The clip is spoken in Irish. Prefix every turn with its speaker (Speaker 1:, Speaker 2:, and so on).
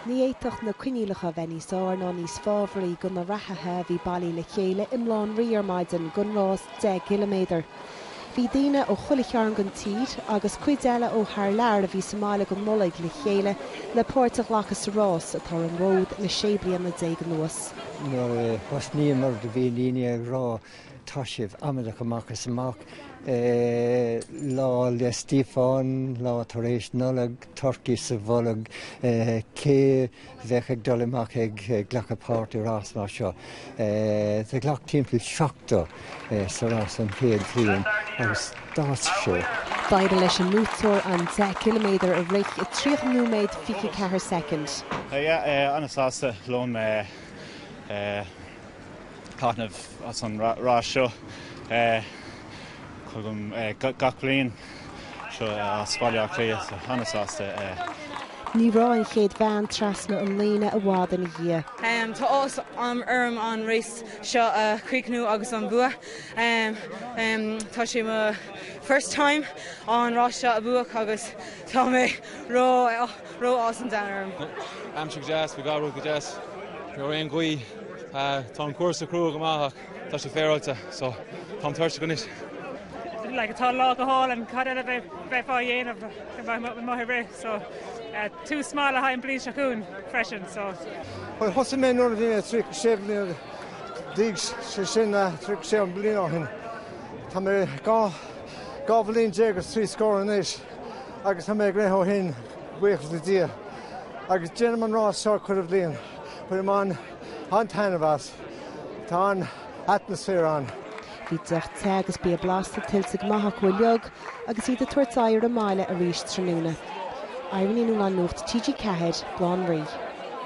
Speaker 1: Ní fhéadfadh na coinníollacha a bheith níos fhearr ná níos fábharaí do na reathaithe a bhí bailí le chéile i mBaile Átha an Rí ar maidin don rás 10 gciliméadar. Bhí daoine ó chuile chearn den tír, agus cuid eile ó thar lear, a bhí sa mbaile don Nollaig le chéile le páirt a ghlacadh sa rás, atá ar an bhfód le 16 bliana anuas. Nuair a
Speaker 2: thosnaíomar do bhí daoine ag rá Tá sibh amaideach amach is amach. Lá 'le Stíofáin, lá tar éis Nollag, turcaí sa bholg, cé bheadh ag dul amach ag glacadh páirt i rás mar seo? Do ghlac timpeall 70 sa rás an chéad bhliain agus d'fhás seo. D'éirigh leis
Speaker 1: an mbuaiteoir an 10 km a rith i 30 nóiméad 24 soicind. Tá mé an-sásta
Speaker 3: liom. taitneamh as an rás seo tagaim gach bliain anseo as Baile Átha Cliath, tá ana sásta.
Speaker 1: Ní raibh an chéad bhean trasna an líne i bhfad ina dhiaidh. Tá
Speaker 4: áthas orm an race seo a chríochnú agus an bua. Tá sé mo first time an rás seo a bhuac agus tá mé ró. raibh áthas an domhain orm. Aimsir go
Speaker 5: deas, bhí gach rud go deas, ní raibh aon ghaoth. Tá an cúrsa crua go maith ach tá sé féaráilte so táim tuirseach anois.
Speaker 6: Tá an lá go hálainn, cad eile a bheifeá a dhéanamh go mbeadh maith i rith so tús maith le haghaidh an bhliain seo chugainn freisin so. Bhuel thosaigh
Speaker 7: mé nuair a bhí mé 36 bliana d'aois, sé sin 36 bliain ó shin. Tá mé dhá bhliain déag is trí scór anois. agus tá mé ag rith ó shin, buíochas le Dia, agus déanaim an rás seo chuile bhliain. Bainim an-taitneamh as, tá an-atmaisféar ann. Bhí deoch
Speaker 1: te agus bia blasta tuillte go maith acu uilig agus iad ag tabhairt aghaidh ar an mbaile arís tráthnóna. Irene Ní Nualláin Nuacht TG4, Baile Átha an Rí.